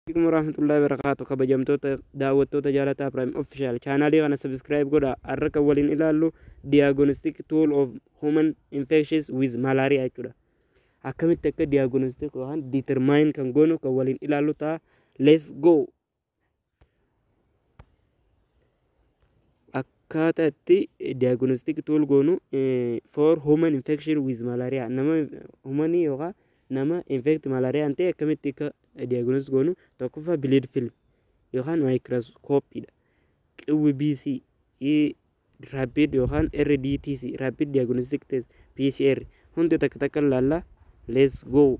Assalamualaikum warahmatullahi wabarakatuh kabajamtoota daawwattoota jaalataa Prime Official chaanaalii kana subscribe godha har'a kan waliin ilaallu diagnostic tool of human infections with malaria jechuudha akkamitti akka diagnostic yookaan determine kan goonu kan waliin ilaallu ta'a let's go akkaataa itti diagnostic tool goonu eh, for human infection with malaria nama humanii yookaan nama infect malaariyaan ta'e akkamitti akka diagnostic goonu tokkoffaa bleed film yookaan microscope dha qwbc Rapid yookaan RDTC, Rapid Diagnostic Test, PCR, hunda takka takka laalla. Let's go.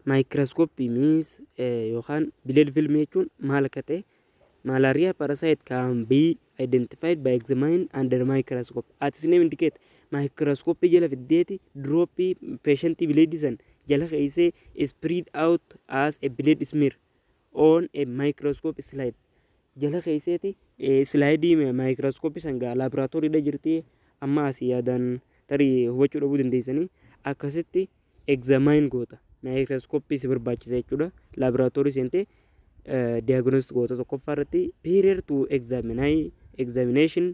Microscopy means eh, yookaan bileed filmii jechuun maal akka ta'e malaria parasite can be identified by examining under microscope. At its name indicate microscope jala fiddeeti droppii patientii bileedii san jala keessee spread out as a blade smear. on a microscope slide jala keesseeti islaayidii maayikirooskooppii san gaa laaboraatooriidha jirti amma asii yaadaan tarii hubachuu dhabuu dandeessanii akkasitti egzaamaan goota maayikirooskooppii si barbaachisa jechuudha laaboraatoorii seentee diagnostic goota tokkoffaa irratti period to examine examination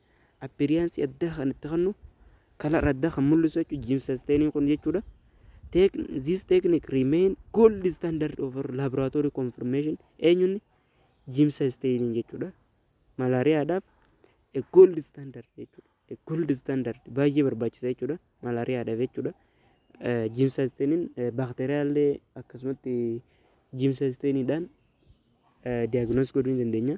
appearance addaa kan itti kennu color addaa kan mul'isu jechuudha Jim Sustaining kun jechuudha. Tech, this technique remain gold standard over laboratory confirmation eenyuun Jim Sustaining jechuudha. Malaariyaadhaaf a gold standard jechuudha. A gold standard baay'ee barbaachisa jechuudha. Malaariyaadhaaf jechuudha. Jim Sustaining baakteeriyaallee akkasumatti Jim Sustaining dhaan diagnosis godhuu ni dandeenya.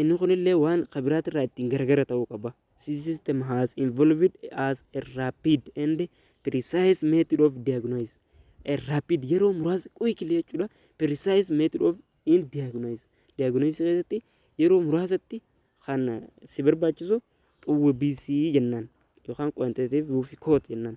Inni kunillee waan ka biraatirraa ittiin garagara ta'uu qaba. This system has involved as a rapid and precise method of diagnosis. A rapid yeroo muraasa quickly jechuudha. Precise method of in diagnosis. Diagnosis keessatti yeroo muraasatti kan si barbaachisu qawwee BC jennaan yookaan quantitative fi quote jennaan.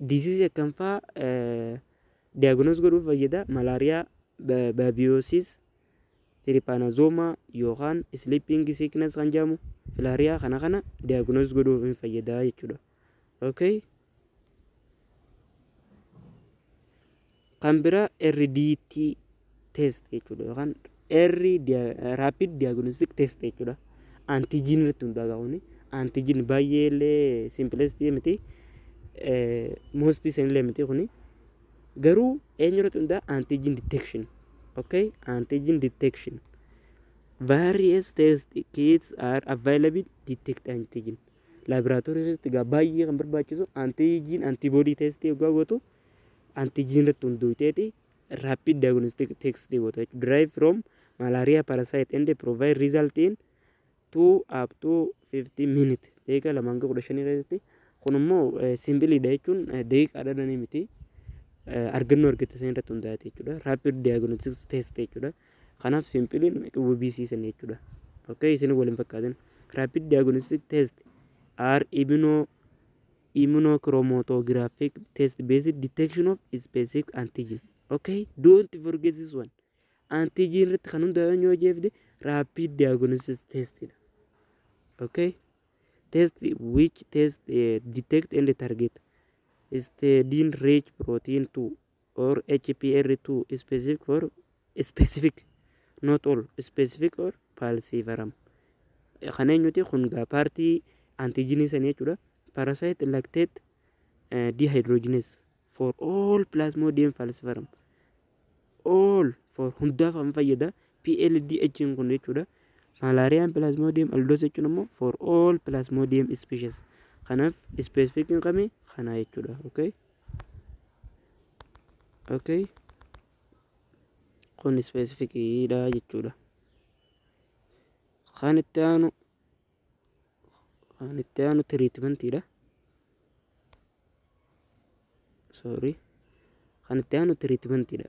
Disease akkam faa diagnose godhuuf fayyada? Malaria, ba- babiosis, trypanosoma yookaan sleeping sickness kan jedhamu filaaria kana kana diagnose godhuuf hin fayyada jechuudha. Okay? Kan biraa RDT test jechuudha yookaan R rapid diagnostic test jechuudha. Antijiin irratti hundaa'a kuni. Antijiin baay'ee illee simplest miti. Most illee miti kuni. Garuu eenyu irratti hundaa'a antijiin detection. Okay? Antijiin detection. Various test kits are available detect antigen. Laboratory keessatti egaa baay'ee kan barbaachisu antigen antibody test yoo gootu antigen irratti hundooyteeti rapid diagnostic text goota jechuudha. Derive from malaria parasite and provide result in 2 up to 50 minute daqiiqa lama hanga kudha shanii keessatti kun immoo simbiliidha jechuun daqiiqaadha dhanii miti argannoo argatte san irratti hundaa'ate jechuudha. Rapid diagnostic test jechuudha. Kanaaf simbiliin WBC san jechuudha. Okay isin waliin fakkaatin. Rapid diagnostic test are immuno Immunochromotographic test based detection of specific antigen. Okay, don't forget this one. Antigen irratti kan hundaa'an yoo jeefde rapid diagnosis test dha. Okay, test which test uh, detect and target histidine rich protein 2 or HPR to specific or specific not all specific or falciparum kan eenyuti kun gaa paartii antiijinii sanii jechuudha parasite lactate uh, dehydrogenase for all plasmodium falciparum all for hundaaf kan fayyada PLDH kun jechuudha malaariyaan plasmodium aldoos jechuun immoo for all plasmodium species kanaaf specific hin qabne kana jechuudha okay okay kun specific dha jechuudha kan itti aanu kan itti aanu treatment dha sorry kan itti aanu treatment dha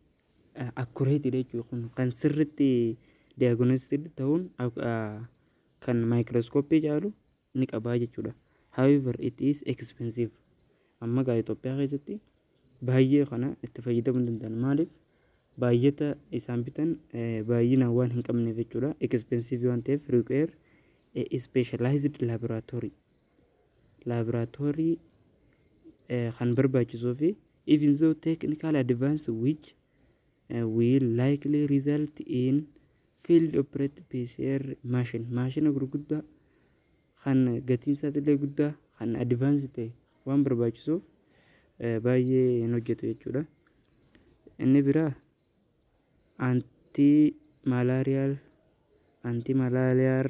accurate dha jechuudha kun kan sirritti diagnosed ta'uun kan microscopy caalu ni qabaa jechuudha however it is expensive amma gaa Itoophiyaa keessatti baay'ee kana itti fayyadamuu hin danda'an maaliif baay'ata isaan bitan baay'inaan waan hin qabneef jechuudha expensive waan ta'eef require a specialized laboratory laabiraatoorii kan barbaachisuu fi even though technical advance which uh, will likely result in field operated PCR machine maashina gurguddaa kan gatiin isaas illee guddaa kan advance ta'e waan barbaachisuuf baay'ee hin hojjetu jechuudha. Inni biraa anti malaariyaal anti malaariyaal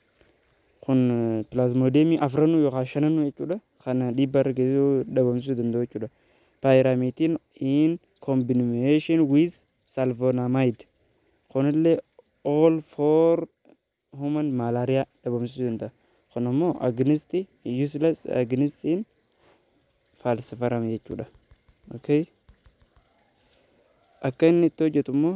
Kun pilaazmoodeemii afranuu yookaan shananuu jechuudha. Kan dhiibbaa irra geessisuu dhabamsiisuu danda'u jechuudha. Paayiraamiitiin in combination with salvonamide. Kunillee all for human malaria dhabamsiisuu danda'a. Kun immoo against useless against in falciparum jechuudha. Okay. Akka inni itti hojjetu immoo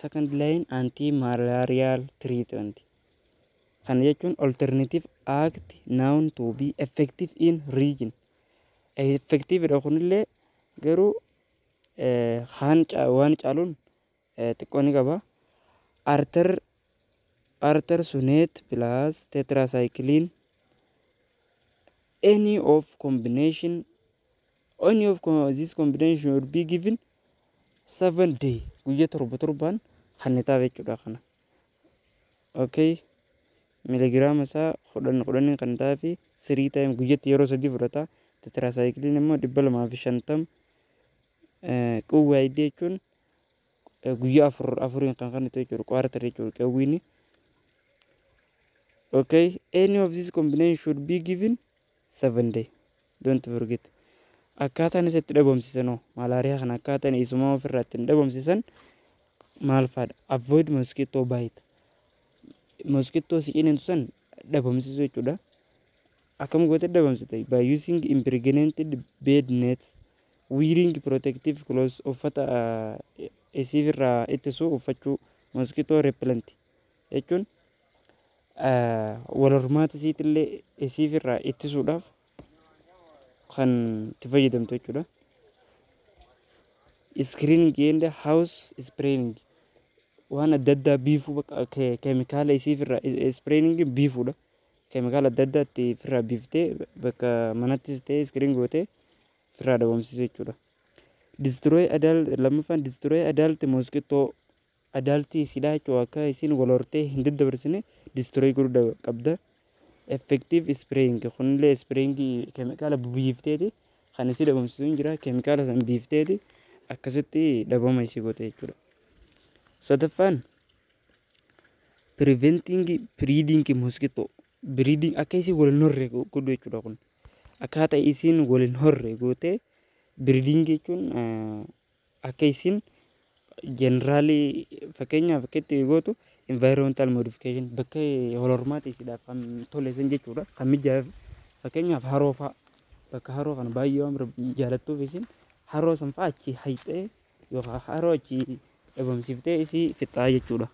Second line anti malarial treatment kana jechuun alternative act known to be effective in region effective dha kunillee garuu kaan waan caaluun xiqqoo ni qaba arter arter sunet plus tetracycline any of combination Only of this combination will be given 7 day guyya torba torbaan kennitaaf jechuudha kana. Okay. Miligiraama isaa kudhan kudhaniin kan ta'aa fi sirii taa'im guyyatti yeroo sadii fudhata. Tetiraasaayikiliin immoo dhibba lamaa fi shantam qawwee jechuun guyyaa afur afuriin kan kennitu jechuudha kwaartar jechuudha qawwiini. Okay, any of this combination should be given 7 day don't forget akkaataan isa itti dhabamsiisan hoo malaariyaa kana akkaataan isumaa ofirraa ittiin dhabamsiisan maal faadha avoid mosquito bite mosquito si ciniintu san dhabamsiisuu jechuudha akkam goote dhabamsita by using impregnated bed net wearing protective clothes uffata isiif irraa ittisu uffachuu mosquito repellent jechuun wal hormaata isiitillee isiif irraa ittisuudhaaf kan itti fayyadamtu jechuudha. Screening and house spraying waan adda addaa biifuu bakka ke- keemikaala isiif irraa spraying biifuudha. Keemikaala adda addaa itti ofirraa biiftee bakka manattis ta'ee screen gootee ofirraa dhabamsiisu jechuudha. Destroy adult lammaffaan destroy adult mosquito adult isidhaa jechuudha akka isin wal hortee hin daddabarsine destroy godhuu qabda. Effective spraying kunillee spraying keemikaala biifteeti kan isii dhabamsiisu hin jira keemikaala san biifteeti akkasitti dhabama isii goote jechuudha. Sadaffaan preventing breeding mosquito breeding akka isii wal hin horre godhu jechuudha kun akkaataa isiin wal hin horre gootee. Breeding jechuun akka isin generally fakkeenyaaf akka itti gootu environmental modification bakka holormaati isidhaaf kan tole isin jechuudha kan mijaa'eef fakkeenyaaf haroo fa'a bakka haroo kana baay'ee waan jaalattuuf isin haroo san fa'a achi hayxee yookaan haroo achi dhabamsiiftee isii fixaa jechuudha.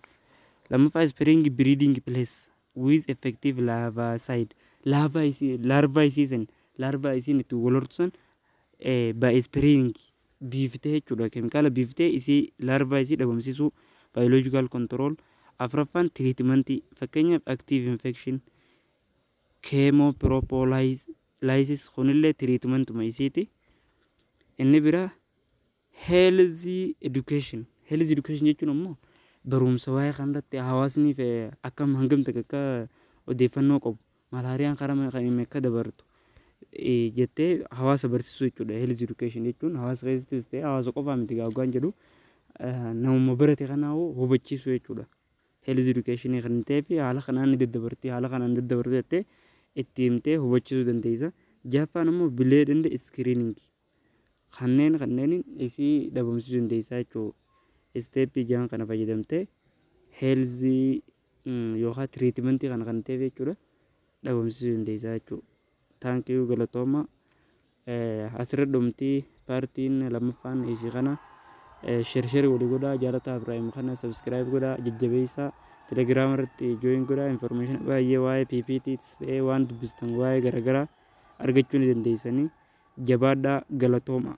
Lammaffaa spring breeding place with effective larvicide larva isii larva isii san Larva isiin itti wal hortu san by spring biiftee jechuudha. Keemikaala biiftee isii larva isii dhabamsiisuu biological control. Afraffaan treatmentii fakkeenyaaf active infection chemopropylaxis kunillee treatmentuma isiiti. Inni bira health education. Health education jechuun ammoo barumsa waa'ee kanarratti hawaasni akkam hangamta akka odeeffannoo qabu. Malaariyaan karaa kamiin akka dabartu jettee hawaasa barsiisuu jechuudha. Health education jechuun hawaasa keessattis ta'e hawaasa qofaa miti gaaggaan jedhu namuma barate kanaa hubachiisuu jechuudha. Health education kan ta'ee fi haala kanaan ni daddabarti haala kanaan daddabarti jettee itti himtee hubachiisuu dandeessa. Jahaffaan immoo bileed indi iskiriiniingi. kanneen kanneeniin isii dhabamsiisuu dandeessaa jechuudha. Isteeppii jahan kana fayyadamtee heelzii yookaan tiriitimentii kana kan ta'eef jechuudha dhabamsiisuu dandeessaa jechuudha. Taankiyuu galatooma asirra dhumtii paartiin lammaffaan isii kana shersheri walii godhaa jaalataa Ibraahim kana sabiskiraayib godhaa jajjabeessaa telegiraama irratti jooyin godhaa infoormeeshinii baay'ee waa'ee PPT ta'ee waan dubbistan waa'ee garaagaraa argachuu ni dandeessanii. Jabaadhaa galatoomaa.